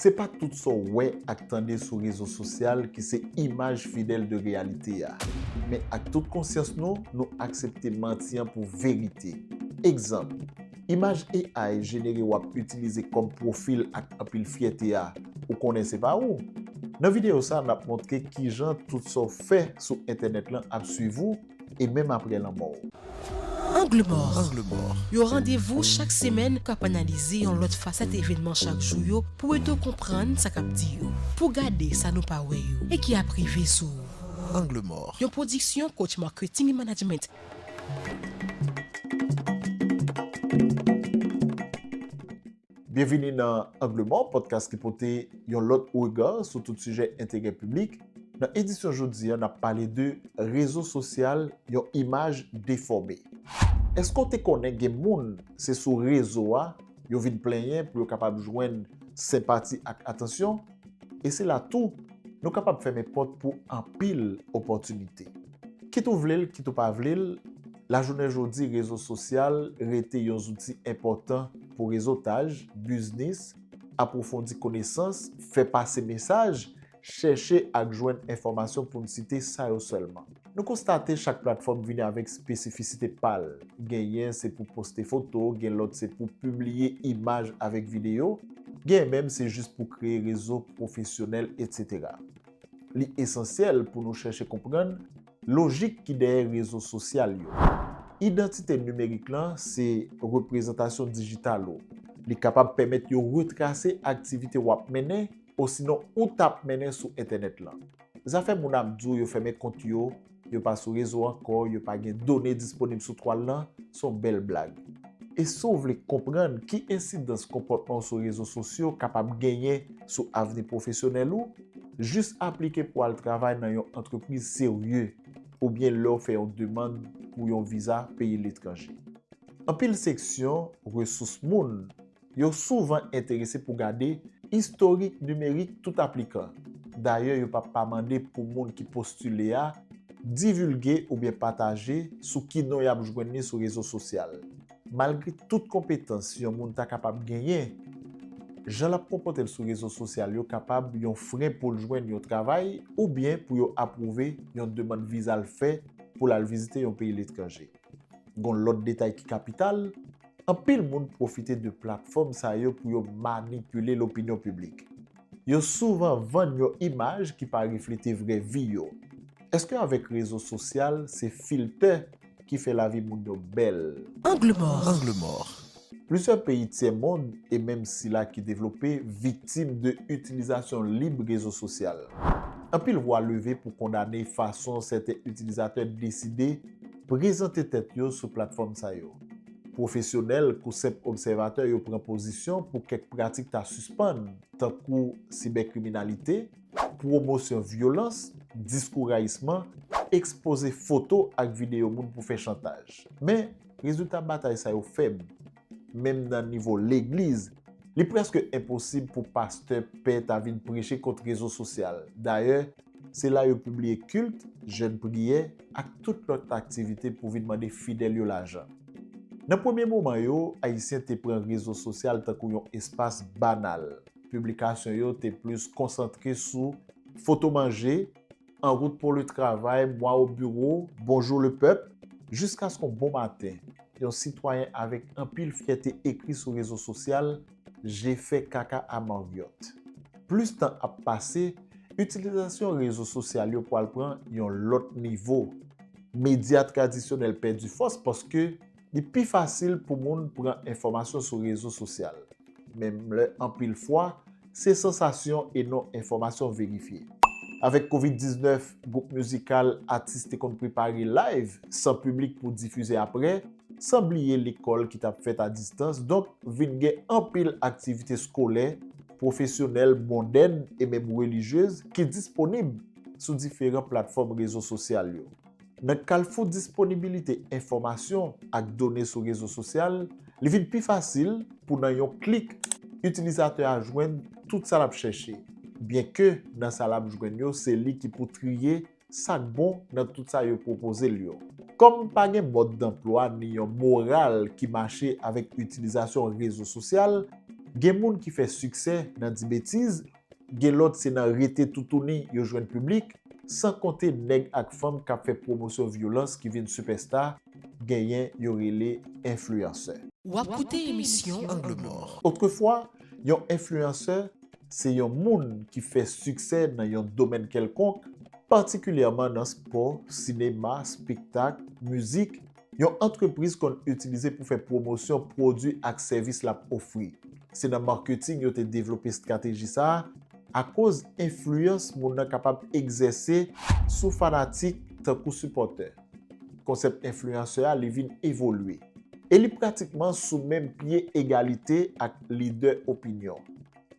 Se pa tout sa w wè ak tande sou rezo sosyal ki se imaj fidèl de reyalite a. Men ak tout konsyans nou, nou aksepte manti an pou verite. Egzanp, imaj AI jenere w ap itilize kòm pwofil ak anpil fyète a, ou konnen se pa ou? Nan videyo sa, n ap montre kijan tout sa w fè sou entènèt lan ap swiv ou, e menm apre lanmò w. Angle mò, yon randevou chak semèn k ap analize yon lòt fasèt evènman chak jou yo pou ede w konprann sa k ap di yo, pou w gade sa nou pa wè yo e ki ap rive sou ou. Angle mò, yon pwodiksyon Coach Marketing et Management. Byenvini nan Angle Mò, podcast ki pote yon lòt rega sou tout sijè enterè piblik. Nan edisyon jodi a, n ap pale de Rezo sosyal, yon imaj defòme. Èske w te konnen gen moun se sou rezo a yo vin plenyen pou yo kapab jwenn senpati ak atansyon? E se la tou nou kapab fèmen pòt pou anpil opòtinite. Kit ou vle l, kit ou pa vle l, Lajounen jodi rezo sosyal rete yon zouti enpòtan pou rezotaj, biznis, apwofondi konesans, fè pase mesaj, chèche ak jwenn enfòmasyon pou n site sa yo sèlman. Nou konstate chak platfòm vini avèk spesifisite pa l, genyen se pou poste foto, gen lòt se pou pibliye imaj avèk videyo, genyen menm se jis pou kreye rezo pwofesyonèl etsetera. Li esansyèl pou nou chèche konprann Lojik ki dèyè rezo sosyal yo. Idantite nimerik lan se reprezantasyon dijital ou. Li kapab pèmèt yo retrase aktivite w ap mennen osinon ou t ap mennen sou entènèt lan. Zafè moun ap di w yo fèmen kont yo, yo pa sou rezo ankò, yo pa gen done disponib sou twal lan, se yon bèl blag. E si w vle konprann ki ensidans konpòtman w sou rezo sosyo kapab genyen sou avni pwofesyonèl ou, Jis aplike pou w al travay nan yon antrepriz serye oubyen lè w fè yon demann pou yon viza peyi letranje. Anpil seksyon Resous Moun yo souvan enterese pou gade istorik nimerik tout aplikan, dayè yo pa pa mande pou moun ki postile a divilge oubyen pataje sou ki non y ap jwenn li sou rezo sosyal. Malgre tout konpetans yon moun ta kapab genyen, jan l ap konpòte l sou rezo sosyal yo kapab yon fren pou l jwenn yon travay oubyen pou yo apwouve yon demann viza l fè pou l al vizite yon peyi letranje. Gon lòt detay ki kapital, anpil moun pwofite de platfòm sa yo pou yo manipile lopinyon piblik. Yo souvan vann yon imaj ki pa reflete vrè vi yo. Eske avèk rezo sosyal se filtè ki fè lavi moun yo bèl. Angle mò. Plizyè peyi tyè mond e menm sila ki devlope viktim de itilizasyon lib rezo sosyal. Anpil vwa leve pou kondane fason sèten itilizatè deside prezante tèt yo sou platfòm sa yo. Pwofesyonèl kou senp obsèvatè yo pran pozisyon pou kèk pratik ta sispann, tankou sibèkriminalite, pwomosyon vyolans, diskou rayisman, ekspoze foto ak videyo moun pou fè chantaj. Men, rezilta batay sa yo fèb. Menm nan nivo legliz, li prèske enposib pou pastè, pè ta vin preche kont rezo sosyal. Dayè, se la yo pibliye kilt, jèn priyè, ak tout lòt aktivite pou vin mande fidèl yo lajan. Nan premye moman yo, Ayisyen te pran rezo sosyal tankou yon espas banal. Piblikasyon yo te plis konsantre sou foto manje, En route pour le travail, Moi au bureau, Bonjour le peuple, jiskaske yon bon maten, yon sitwayen avèk anpil fyète ekri sou rezo sosyal, Je fais caca à Marriott. Plis tan ap pase, itilizasyon rezo sosyal yo pwal pran yon lòt nivo. Medya tradisyonèl pèdi fòs paske. Li pi fasil pou moun pran enfòmasyon sou rezo sosyal, menm lè anpil fwa, se sansasyon e non enfòmasyon verifye. Avèk Covid 19, gwoup mizikal, atis te konn prepare live san piblik pou difize aprè, san bliye lekòl ki t ap fèt a distans, donk vin gen anpil aktivite skolè, pwofesyonèl, mondèn e menm relijyez ki disponib sou diferan platfòm rezo sosyal yo. Nan kalfou disponibilite enfòmasyon ak done sou rezo sosyal, li vin pi fasil pou nan yon klik itilizatè a jwenn tout sa l ap chèche, byenke nan sa l ap jwenn yo se li ki pou triye sa k bon nan tout sa yo pwopoze l yo. Kòm pa gen mòd danplwa ni yon moral ki mache avèk itilizasyon rezo sosyal, gen moun ki fè siksè nan di betiz Gen lòt se nan rete toutouni yo jwenn piblik, san konte nèg ak fanm k ap fè pwomosyon vyolans ki vin sipèsta, genyen yo rele enfliyansè. W ap koute emisyon Angle Mò. Otrefwa, yon enfliyansè se yon moun ki fè siksè nan yon domèn kèlkonk, patikilyèman nan spò, sinema, spektak, mizik, Yon antrepriz konn itilize pou fè pwomosyon pwodui ak sèvis l ap ofri. Se nan marketing yo te devlope estrateji sa a akoz enfliyans moun nan kapab egzèse sou fanatik tankou sipòtè. Konsèp enfliyansè a li vin evolye. E li pratikman sou menm pye egalite ak lidè opinyon.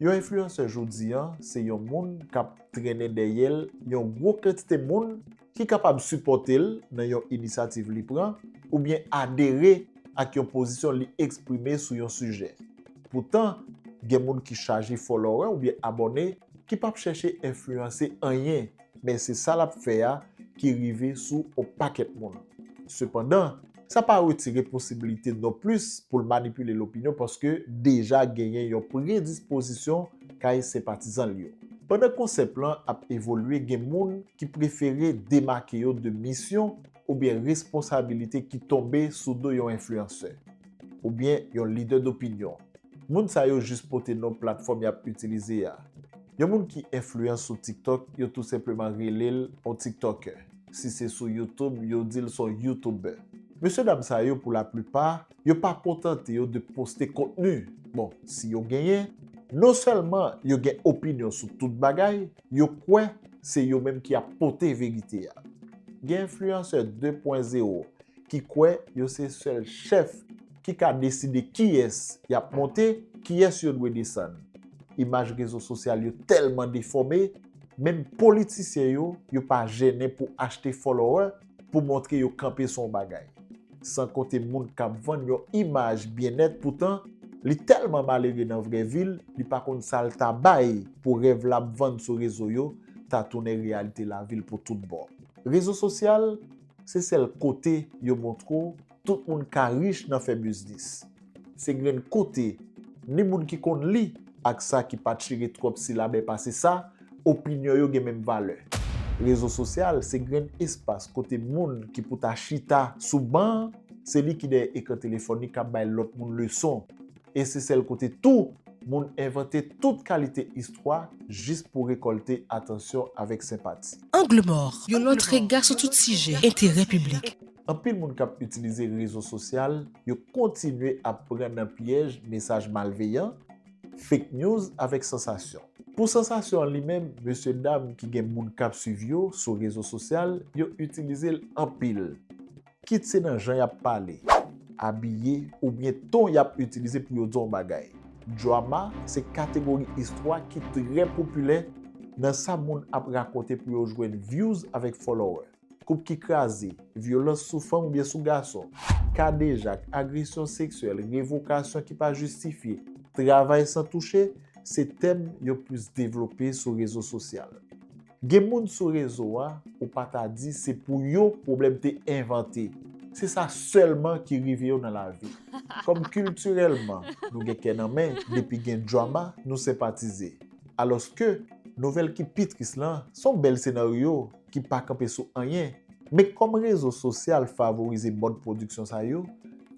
Yon enfliyansè jodi an se yon moun k ap trennen dèyè l yon gwo kantite moun, ki kapab sipòte l nan yon inisyativ li pran oubyen adere ak yon pozisyon li eksprime sou yon sijè. Poutan, gen moun ki chaje fòlowè oubyen abòne ki pap chèche enfliyanse anyen, men se sa l ap fè a ki rive sou on pakèt moun. Sepandan. Sa pa retire posibilite non plis pou l manipile lopinyon paske deja genyen yon predispozisyon kay senpatizan l yo. Pandan konsèp lan ap evolye gen moun ki prefere demake yo de misyon oubyen responsabilite ki tonbe sou do yon enfliyansè, oubyen yon lidè dopinyon. Moun sa yo jis pote non platfòm y ap itilize a. Yon moun ki enfliyan sou TikTok yo tou senpleman rele l on Tiktòkè. Si se sou YouTube, yo di l s on YouTuber. Mesye dam sa yo pou laplipa, yo pa kontante yo de poste kontni, bon, si yo genyen, non sèlman yo gen opinyon sou tout bagay, yo kwè se yo menm ki ap pote verite a. Gen enfliyansè 2 pwen zewo ki kwè yo se sèl chèf ki ka deside kiyès y ap monte, kiyès yo dwe desann. Imaj rezo sosyal yo tèlman defòme, Menm politisyen yo, yo pa jennen pou achte follower pou montre yo kanpe sou yon bagay. San konte moun kap vann yon imaj byennèt poutan li tèlman malere nan vrè vi l, li pa konn sa l ta bay pou rèv lap vann sou rezo yo ta tounen reyalite lavi l pou tout bon. Rezo sosyal se sèl kote yo montre w Tout moun ka rich nan fè biznis. Se grenn kote, ni moun ki konn li ak sa ki pa chire twòp silabè pase sa, opinyon yo gen menm valè. Rezo sosyal se grenn espas kote moun ki pou ta chita sou ban, se li ki dèyè ekran telefòn li k ap bay lòt moun leson. E se sèl kote tou moun envante tout kalite istwa jis pou rekòlte atansyon avèk senpati. Angle mò, yon lòt rega sou tout sijè enterè piblik. Anpil moun k ap itilize rezo sosyal yo kontinye ap pran nan pyèj mesaj malveyan, fake news avèk sansasyon. Pou sansasyon an li menm, mesye dam ki gen moun k ap swiv yo sou rezo sosyal yo itilize l anpil. Kit se nan jan y ap pale, abiye oubyen ton y ap itilize pou yo di w yon bagay. Drama se kategori istwa ki trè popilè nan sa moun ap rakonte pou yo jwenn vyouz avèk fòlowè. koup ki kraze, vyolans sou fanm oubyen sou gason, kadejak, agresyon seksyèl, revokasyon ki pa jistifye, travay san touche, se tèm yo plis devlope sou rezo sosyal. Gen moun sou rezo a ou pa ta di se pou yo pwoblèm te envante, se sa sèlman ki rive yo nan lavi. Kòm kiltirèlman nou gen kè nan men depi gen drama nou senpatize. Alòske nouvèl ki pi tris lan son bèl senaryo. ki pa kanpe sou anyen. Men kòm rezo sosyal favorize mòd pwodiksyon sa yo,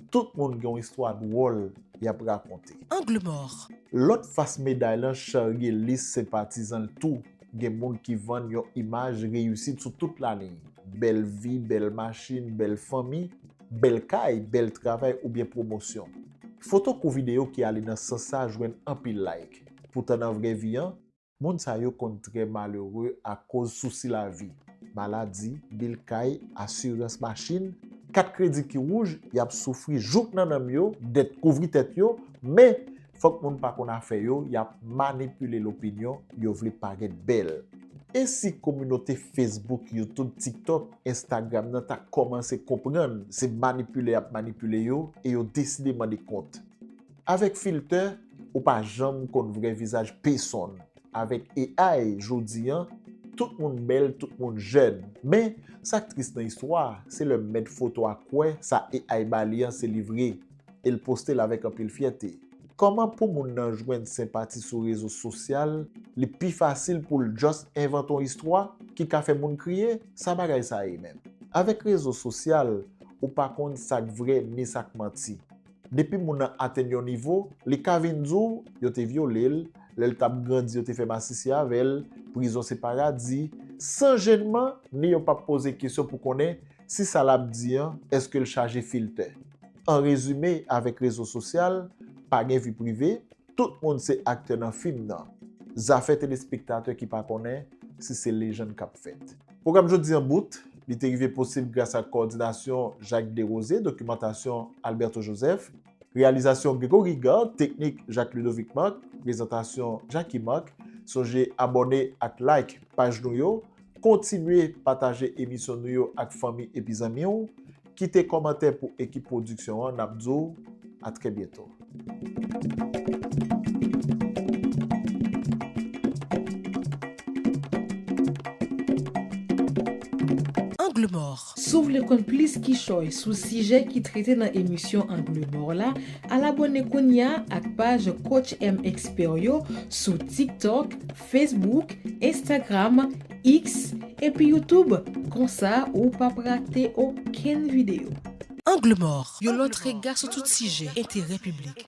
tout moun gen yon istwa dwòl y ap rakonte. Angle mòr. Lòt fas meday lan charye lis senpatizan l tou, gen moun ki vann yon imaj reyisit sou tout laliy, bèl vi, bèl machin, bèl fanmi, bèl kay, bèl travay oubyen pwomosyon. Foto kou videyo ki ale nan sans sa jwenn anpil like. Poutan nan vrè vi an, Moun sa yo konn trè malere akoz sousi lavi, maladi, bil kay, asirans machin, kat kredi ki wouj, y ap soufri jouk nan nanm yo, dèt kouvri tèt yo, men, fòk moun pa konn afè yo, y ap manipile lopinyon, yo vle parèt bèl. E si kominote Facebook, YouTube, TikTok, Instagram nan ta kòmanse konprann se manipile y ap manipile yo e yo deside mande kont? Avèk filtè ou pa janm konn vrè vizaj pesonn. Avèk AI jodi an, tout moun bèl, tout moun jèn. Men, sa k tris nan istwa a, se lè mèt foto a kwè sa AI ba li an se li vre e l poste l avèk anpil fyète. Kòman pou moun nan jwenn senpati sou rezo sosyal, li pi fasil pou l just envante yon istwa ki ka fè moun kriye? Sa bagay sa ye menm? Avèk rezo sosyal, ou pa konn sa k vrè ni sa k manti. Depi moun nan atenn yon nivo, li ka vin di w yo te vyole l, lè l t ap grandi yo te fè masisi avè l, prizon se paradi, san jennman ni yo p ap poze kesyon pou konnen si sa l ap di an èske l chaje filtè. An rezime, avèk rezo sosyal, pa gen vi prive, tout moun se aktè nan fim nan. Zafè telespektatè ki pa konnen si se lejann k ap fèt. Pwogram jodi an bout. Li te rive posib gras ak kowòdinasyon Jacques Desrosiers, dokimantasyon Alberto Joseph, reyalizasyon Gregory Gard, teknik Jacques Ludovic Marc, prezantasyon Jacky Marc. Sonje abòne ak like paj nou yo. Kontinye pataje emisyon nou yo ak fanmi epi zanmi w. Kite komantè pou ekip pwodiksyon an nap di w a trè byento. Angle mòr. Si w vle konn plis kichòy sou sijè ki trete nan emisyon Angle mòr la, al abòne kounya ak paj Coach M Expert yo sou TikTok, Facebook, Instagram, X, epi YouTube, konsa ou p ap rate okenn videyo. Angle mò, yon lòt rega sou tout sijè enterè piblik.